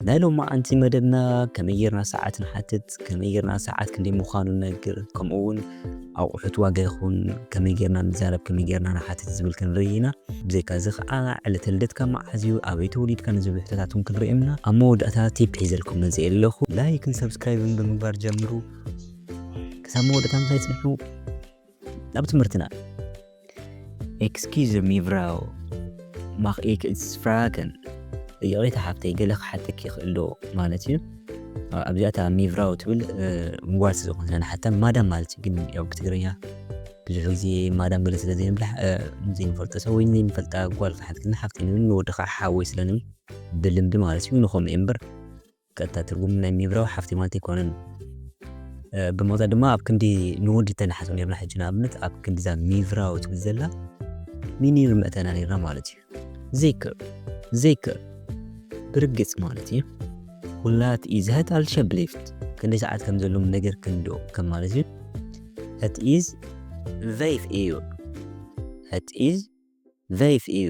ናይ ሎማዓንቲ መደብና ከመይ ጌርና ሰዓት ንሓትት፣ ከመይ ጌርና ሰዓት ክንደይ ምዃኑ ንነግር፣ ከምኡ እውን ኣቑሑት ዋጋ ይኹን ከመይ ጌርና ንዛረብ፣ ከመይ ጌርና ንሓትት ዝብል ክንርኢ ኢና። ብዘይካ እዚ ከዓ ዕለተ ልደትካ መዓዝ እዩ፣ ኣበይ ተወሊድካ ንዝብሉ ሕቶታት እውን ክንሪኦም ኢና። ኣብ መወዳእታ ቲፕ ሒዘልኩም መፂኤ ኣለኹ። ላይክን ሰብስክራይብን ብምግባር ጀምሩ። ክሳብ መወዳእታ ምሳይ ፅንሑ። ናብ ትምህርትና ኤክስኪዝ ሚቭራው ማኽ ኤክስ ፍራገን ይቕሬታ ሓፍተይ ገለ ክሓተኪ ይኽእል ዶ ማለት እዩ ኣብዚኣታ ሚቭራው ትብል ምጓል ስለዝኾነ ንሓታ ማዳም ማለት እዩ ግን ያው ብትግርኛ ብዙሕ ግዜ ማዳም ገለ ስለ ዘይንብላ ዘይንፈልጦ ሰብ ወይ ዘይንፈልጣ ጓል ክሓትክልና ሓፍቲ ንብል ንወድኻ ሓወይ ስለንብል ብልምዲ ማለት እዩ ንኸምኡ እምበር ቀጥታ ትርጉም ናይ ሚብራው ሓፍቲ ማለት ኣይኮነን። ብሞታ ድማ ኣብ ክንዲ ንወዲ ተንሓስብ ነርና ሕጂ ንኣብነት ኣብ ክንዲዛ ሚብራው ትብል ዘላ ሚኒር መእተና ነርና ማለት እዩ። ዘይክር ዘይክር ብርግጽ ማለት እዩ ሁላት ኢዝ ሀት አልሸብሊፍት ክንደይ ሰዓት ከም ዘለዎም ነገር ክንዶ ከም ማለት እዩ ሀት ኢዝ ቨይፍ እዩ ሀት ኢዝ ቨይፍ እዩ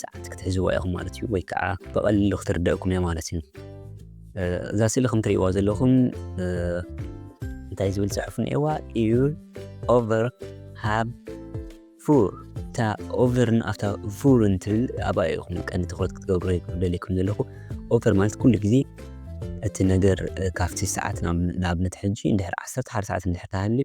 ሰዓት ክትሕዝዋ ኢኹም ማለት እዩ ወይ ከዓ ብቐሊሉ ክትርደእኩም እያ ማለት እዩ። እዛ ስእሊ ከም ትርእይዋ ዘለኹም እንታይ ዝብል ፅሑፍ እኒኤዋ ኢዩር ኦቨር ሃብ ፉር እታ ኦቨርን ኣብታ ፉርን ትብል ኣብኣ ኢኹም ቀንዲ ትኩረት ክትገብሩ ደልየኩም ዘለኹ ኦቨር ማለት ኩሉ ግዜ እቲ ነገር ካብቲ ሰዓት ንኣብነት ሕጂ እንድሕር ዓሰርተ ሓደ ሰዓት እንድሕር ተሃልዩ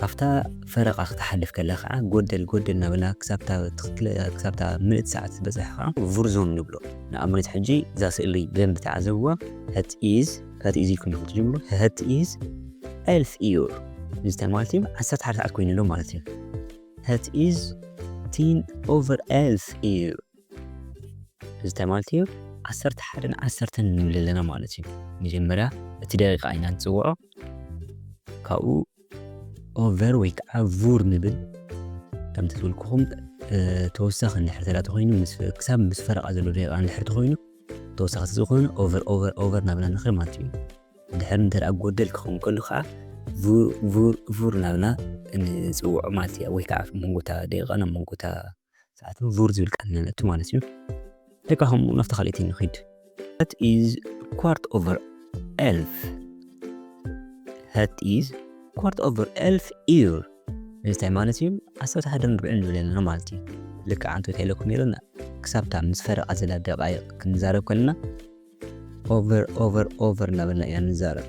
ካብታ ፈረቓ ክትሓልፍ ከላ ከኣ ጎደል ጎደል እናበልና ክሳብታ ትኽክለ ክሳብታ ምልእቲ ሰዓት ዝበጽሕ ከኣ ቭርዞን ንብሎ። ንኣብነት ሕጂ እዛ ስእሊ ብደንቢ ተዓዘብዋ፣ ሀት ኢዝ፣ ሀት ኢዝ ኢልኩም ኢኹም ትጅምሩ፣ ሀት ኢዝ ኤልፍ ኢዩር እዚ ታይ ማለት እዩ ዓሰርተ ሓደ ሰዓት ኮይኑ ኣሎ ማለት እዩ። ሀት ኢዝ ቲን ኦቨር ኤልፍ ኢዩር እዚ እንታይ ማለት እዩ? ዓሰርተ ሓደን ዓሰርተን ንብል ኣለና ማለት እዩ። መጀመርያ እቲ ደቂቃ ኢና ንጽውዖ፣ ካብኡ ኦቨር ወይ ከዓ ቡር ንብል ከምቲ ዝብልኩኹም ተወሳኺ እንድሕር ተላ ተኮይኑ ክሳብ ምስ ፈረቓ ዘሎ ደቂቃ እንድሕር ተኮይኑ ተወሳኺ ዝኾነ ኦቨር ኦቨር ኦቨር ናብና ንኽእል ማለት እዩ እንድሕር እንተ ጎደል ክኸውን ከሉ ከዓ ቡር ናብና ንፅውዖ ማለት እያ ወይ ከዓ መንጎታ ደቂቃ ናብ መንጎታ ሰዓትን ቡር ዝብል ቃል ኢና ነእቱ ማለት እዩ። ደቃ ከምኡ ናብታ ካልኣይቲ ንኺድ። Hat is quart over elf Hat is quart over elf uur እንታይ ማለት እዩ? ዓሰርተ ሓደን ርብዕን ንብል ኣለና ማለት እዩ። ልክዕ ኣንተ እንታይ ኢለኩም ነይረ ክሳብታ ምስ ፈረቓ ዘላ ደቓይቕ ክንዛረብ ከለና ኦቨር ኦቨር ኦቨር እናበልና ኢና ንዛረብ።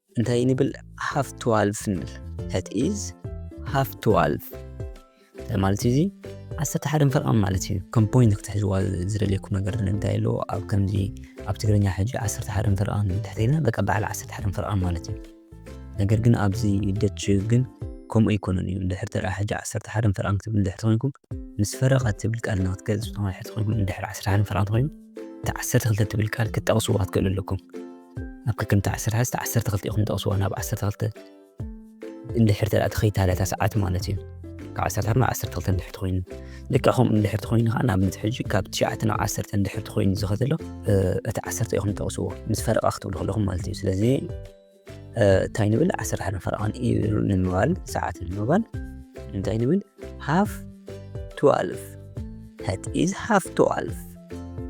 እንታይ ንብል ሃፍ ትዋልፍ ንብል ዳት ኢዝ ሃፍ ትዋልፍ እንታይ ማለት እዩ እዚ ዓሰርተ ሓደ ፈርቓም ማለት እዩ ከም ፖይንት ክትሕዝዋ ዝደልየኩም ነገር እንታይ ኣሎ ኣብ ከምዚ ኣብ ትግርኛ ሕጂ ዓሰርተ ሓደ ፈርቓም ድሕሪ ኢልና በቃ በዓል ዓሰርተ ሓደ ፈርቓም ማለት እዩ ነገር ግን ኣብዚ ደች ግን ከምኡ ኣይኮነን እዩ ድሕሪ ተራ ሕጂ ዓሰርተ ሓደ ፈርቓም ክትብል ድሕሪ ተኮይንኩም ምስ ፈረቓ ትብል ቃል ንክትገልፅ ዝኾነ ድሕሪ ተኮይንኩም ድሕሪ ዓሰርተ ሓደ ፈርቓም ተኮይኑ እቲ ዓሰርተ ክልተ ትብል ቃል ክትጠቕስዋ ትክእሉ ኣለኩም ኣብ ከከምቲ ዓሰርተ ሓዝቲ ዓሰርተ ክልተ ኢኹም ጠቕስዎ ናብ ዓሰርተ ክልተ እንድሕር ተደኣ ተኸይታለታ ሰዓት ማለት እዩ ካብ ዓሰርተ ናብ ዓሰርተ ክልተ እንድሕር ትኮይኑ ልክዕ ከምኡ እንድሕር ትኮይኑ ከዓ ንኣብነት ሕጂ ካብ ትሽዓተ ናብ ዓሰርተ እንድሕር ትኮይኑ ዝኸ ዘሎ እቲ ዓሰርተ ኢኹም ጠቕስዎ ምስ ፈረቓ ክትብሉ ከለኹም ማለት እዩ ስለዚ እንታይ ንብል ዓሰርተ ሓደ ፈረቓን ኢሉ ንምባል ሰዓት ንምባል እንታይ ንብል ሃፍ ትዋልፍ ሃት ኢዝ ሃፍ ትዋልፍ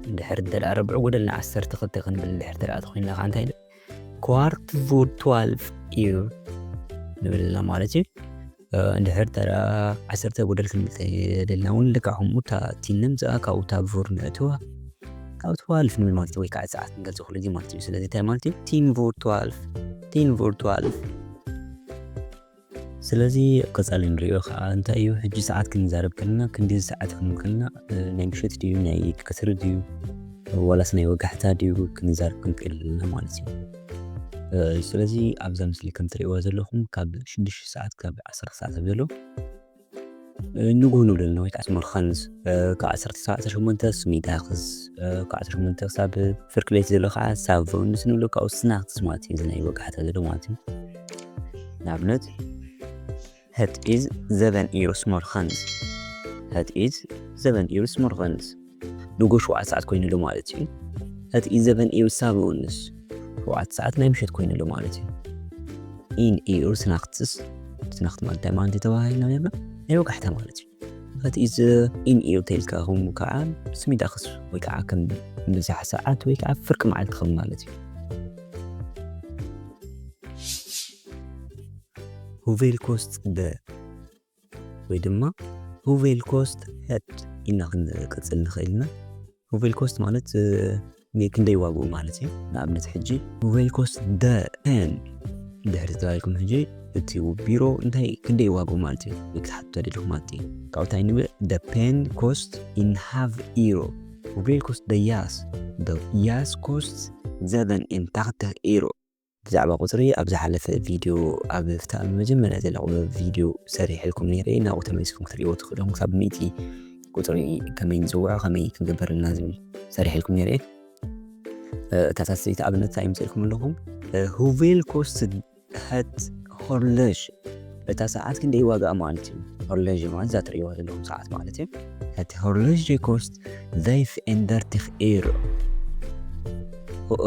እንድሕር እንተ ረብዕ ጎደል ንዓሰርተ ክልተ ክንብል እንድሕር ተደኣ ተኮይንና ከዓ እንታይ ኳርት ቮር ትዋልፍ እዩ ንብል ኣለና ማለት እዩ እንድሕር ተደኣ ዓሰርተ ጎደል ክንብል ተደልና እውን ልክዕ ከምኡ እታ ቲን ነምፅኣ ካብኡ እታ ቮር ንእትዋ ካብ ትዋልፍ ንብል ማለት እዩ ወይ ከዓ ሰዓት ንገልፆ ክሉ ግዜ ማለት እዩ ስለዚ እንታይ ማለት እዩ ቲን ቮር ትዋልፍ ቲን ቮር ትዋልፍ ስለዚ ኣብ ቀጻሊ ንሪኦ ከኣ እንታይ እዩ ሕጂ ሰዓት ክንዛረብ ከለና ክንድዚ ሰዓት ክንብል ከለና ናይ ምሸት ድዩ ናይ ቀትሪ ድዩ ዋላስ ናይ ወጋሕታ ድዩ ክንዛረብ ክንክእል ኣለና ማለት እዩ። ስለዚ ኣብዛ ምስሊ ከም ትርእይዋ ዘለኹም ካብ ሽዱሽተ ሰዓት ክሳብ ዓሰርተ ሰዓት ኣብ ዘሎ ንጉህ ንብለልና ወይ ከዓ መርኸንዝ ካብ ዓሰርተ ክሳብ ዓሰርተ ሸሞንተ ስሚዳክስ ካብ ዓሰርተ ሸሞንተ ክሳብ ፍርቂ ለይቲ ዘሎ ከዓ ሳቮንስ ንብሎ ካብኡ ስናክስ ማለት እዩ እዚ ናይ ወጋሕታ ዘሎ ማለት እዩ ንኣብነት ሀት ኢዝ ዘበን ኢሩስ መርኸንዝ ሀት ኢዝ ዘበን ኢሩስ መርኸንዝ ንጎ ሸውዓተ ሰዓት ኮይኑ ኣሎ ማለት እዩ። እቲ ኢዘቨን ኢር ሳብኡንስ ሸውዓተ ሰዓት ናይ ምሸት ኮይኑ ኣሎ ማለት እዩ። ኢን ኢር ስናክትስ ስናክት ማለት እንታይ ማለት ተባሂልና ነርና ናይ ወጋሕታ ማለት እዩ። እቲ ኢዘ ኢን ኢር ተይልካ ከም ከዓ ስሚዳክስ ወይ ከዓ ከም ብዛሕ ሰዓት ወይ ከዓ ፍርቂ መዓልቲ ከም ማለት እዩ። ሁቬልኮስት ደ ወይ ድማ ሁቬል ኮስት ሄድ ኢልና ክንቅጽል ንኽእል ኢና። ሁቬል ኮስት ማለት ክንደይ ዋግኡ ማለት እዩ። ንኣብነት ሕጂ ሁቬል ኮስት ደ ፔን ድሕሪ ተባሂልኩም ሕጂ እቲ ቢሮ እንታይ ክንደይ ዋግኡ ማለት እዩ ወይ ክትሓትቱ ተደሊኹም ማለት እዩ። ካብኡ እንታይ ንብል ደ ፔን ኮስት ኢን ሃቭ ኢሮ ሁቬል ኮስት ደ ያስ ደ ያስ ኮስት ዘበን ኢን ታክተህ ኢሮ ብዛዕባ ቁጽሪ ኣብ ዝሓለፈ ቪድዮ ኣብ ኣብታ ኣብ መጀመርያ ዘላ ቁጽሪ ቪድዮ ሰሪሐልኩም ነይረ ናብኡ ተመሊስኩም ክትርእይዎ ትኽእሉ ኢኹም ክሳብ ሚእቲ ቁጽሪ ከመይ ንጽውዖ ከመይ ክንገብር እና ዝብል ሰሪሐልኩም ነይረ እታ ሳስይቲ ኣብነት እንታይ ይምጽእልኩም ኣለኹም ሁቬል ኮስት ሀት ሆርለዥ እታ ሰዓት ክንደይ ዋጋኣ ማለት እዩ ሆርለዥ ማለት እዛ ትርእይዋ ዘለኹም ሰዓት ማለት እዩ እቲ ሆርለዥ ኮስት ዘይፍ ኤንደርቲክ ኤር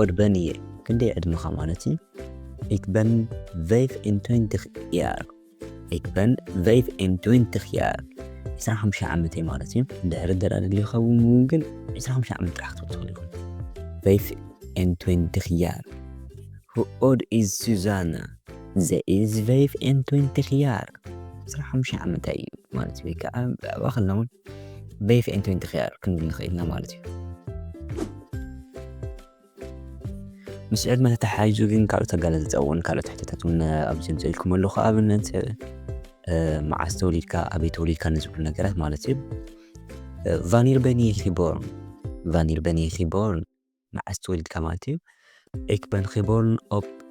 ኦርበንየ ክንደይ ዕድመኻ ማለት እዩ? Ik ben 25 jaar. Ik ben 25 jaar. 25 ዓመት እየ ማለት እዩ ድሕሪ ደራ ድልዩኻ እውን ግን 25 ዓመት ጥራሕ ክትብል ትኽእል ኢኹም 25 jaar. Hoe oud is Susanna? Ze is 25 jaar. 25 ዓመት እዩ ማለት እዩ ወይ ከዓ ብዛዕባ ከለና እውን 25 jaar ክንብል ንኽእል ኢና ማለት እዩ ምስ ዕድመ ተተሓሒዙ ግን ካልኦት ኣገላልጻ እውን ካልኦት ሕቶታት እውን ኣብዚ ምጽእ ኢልኩም ኣለኹ ኣብነት መዓስ ተወሊድካ ኣበይ ተወሊድካ ንዝብሉ ነገራት ማለት እዩ ቫኒር በኒ ኪቦርን ቫኒር በኒ ኪቦርን መዓስ ተወሊድካ ማለት እዩ ኤክበን ኪቦርን ኦፕ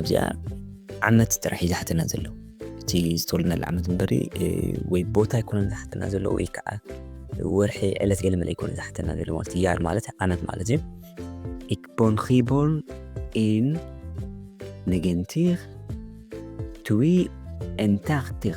ኣብዚኣ ዓመት ጥራሕ እዩ ዝሓተና ዘሎ እቲ ዝተወለድናሉ ዓመት እምበሪ ወይ ቦታ ኣይኮነን ዝሓተና ዘሎ ወይ ከዓ ወርሒ ዕለት ገለመለ ኣይኮነ ዝሓተና ዘሎ ማለት ያር ማለት ዓመት ማለት እዩ Ik ben geboren in 1982 Tag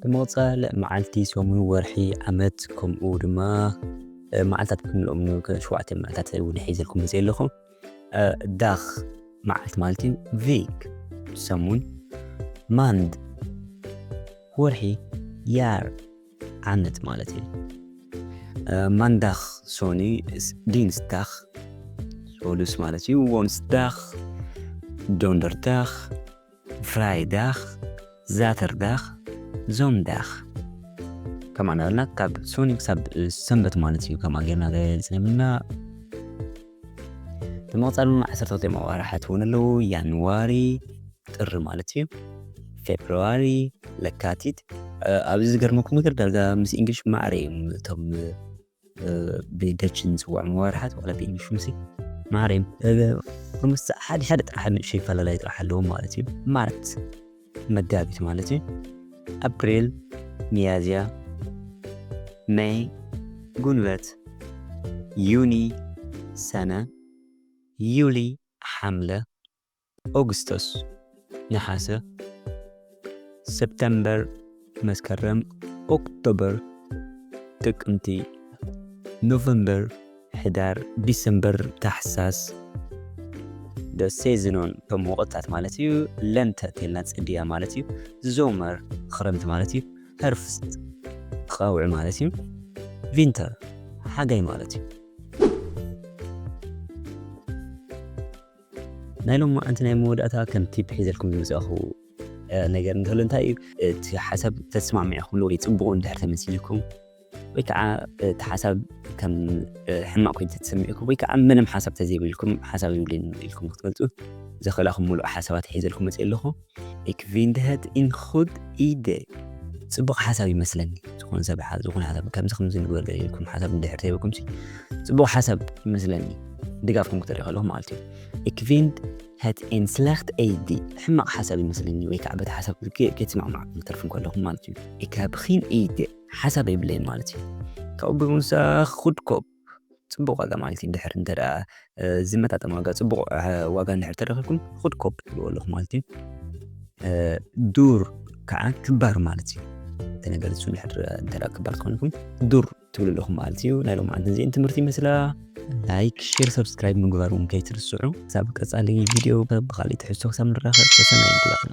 ብመቕጻል መዓልቲ፣ ሰሙን፣ ወርሒ፣ ዓመት ከምኡ ድማ መዓልታት ክንብሎም ሸውዓተ መዓልታት እውን ሒዘልኩም መጽእ ኣለኹ። ዳኽ መዓልቲ ማለት እዩ። ቪክ ሰሙን፣ ማንድ ወርሒ፣ ያር ዓመት ማለት እዩ። ማንዳኽ ሶኒ፣ ዲንስዳኽ ሶሉስ ማለት እዩ። ወንስዳኽ ዶንደርዳኽ ፍራይዳኽ፣ ዛተርዳኽ፣ ዞንዳኽ ከምኡ እናበልና ካብ ሶኒ ክሳብ ሰንበት ማለት እዩ ከምኣ ጌርና ገሊፅና ብምቕፃል ድማ ዓሰርተ ክልተ መዋርሓት እውን ኣለዉ ያንዋሪ ጥሪ ማለት እዩ ፌብርዋሪ ለካቲት ኣብዚ ዝገርመኩም ነገር ዳርጋ ምስ እንግሊሽ ማዕረ እዮም እቶም ብደች ንጽውዖም መዋርሓት ዋላ ብኢንሹሲ ማርያም ኦልሞስት ሓደ ሓደ ጥራሕ ንእሽተይ ፈላላይ ጥራሕ ኣለዎም ማለት እዩ። ማርት መጋቢት ማለት እዩ። ኣፕሪል፣ ሚያዝያ፣ መይ፣ ጉንበት፣ ዩኒ፣ ሰነ፣ ዩሊ፣ ሓምለ፣ ኦግስቶስ፣ ነሓሰ፣ ሰፕተምበር፣ መስከረም፣ ኦክቶበር፣ ጥቅምቲ፣ ኖቨምበር፣ ሕዳር፣ ዲሰምበር፣ ታሕሳስ፣ the season on እቶም ወቕትታት ማለት እዩ ለንተ ተልና ጽድያ ማለት እዩ ዞመር ክረምቲ ማለት እዩ ሀርፍስት ቐውዒ ማለት እዩ ቪንተር ሓጋይ ማለት እዩ ናይ ሎማዓንቲ ናይ መወዳእታ ከም ቲፕ ሒዘልኩም ዝመጻኹ ነገር እንተሎ እንታይ እዩ እቲ ሓሳብ ተስማሚዕኩምሉ ወይ ፅቡቕ እንድሕር ተመሲልኩም ወይ ከዓ እቲ ሓሳብ ከም ሕማቕ ኮይኑ ተተሰሚዕኩም ወይ ከዓ ምንም ሓሳብ ተዘይብልኩም ሓሳብ ይብልን ኢልኩም ክትመልጡ ዘኽእላኹም ሙሉእ ሓሳባት ሒዘልኩም መፅእ ኣለኹ Ik vind het een goed idee ጽቡቕ ሓሳብ ይመስለኒ ዝኾነ ሰብ ዝኾነ ሓሳብ ከምዚ ከምዚ ንግበር ደልኩም ሓሳብ እንድሕር ተይበኩም ጽቡቕ ሓሳብ ይመስለኒ ድጋፍኩም ክትርኢ ከለኹ ማለት እዩ ኢክቪንድ ሀት ኤን ስለክት ኤዲ ሕማቕ ሓሳብ ይመስለኒ ወይ ከዓ በቲ ሓሳብ ከይትስማዕማዕ ክትተርፉ ከለኹም ማለት እዩ ኢካብኺን ኢደ ሓሳብ የብለይን ማለት እዩ ካብኡ ብምውሳኽ ኩድኮብ ጽቡቕ ዋጋ ማለት እዩ ድሕር እንተ ዝመጣጠን ዋጋ ጽቡቕ ዋጋ እንድሕር ተረኺብኩም ኹድ ኮፕ ትብልዎ ኣለኹም ማለት እዩ ዱር ከዓ ክባር ማለት እዩ እቲ ነገር እሱ እንድሕር እንተ ክባር ትኾንኩም ዱር ትብሉ ኣለኹም ማለት እዩ ናይ ሎም ዓንትን እዚእን ትምህርቲ ይመስላ ላይክ ሼር ሰብስክራይብ ምግባር እውን ከይትርስዑ ክሳብ ቀጻሊ ቪድዮ ብካሊእ ትሕዝቶ ክሳብ ንራኸብ ሰሰናይ ንኹላትና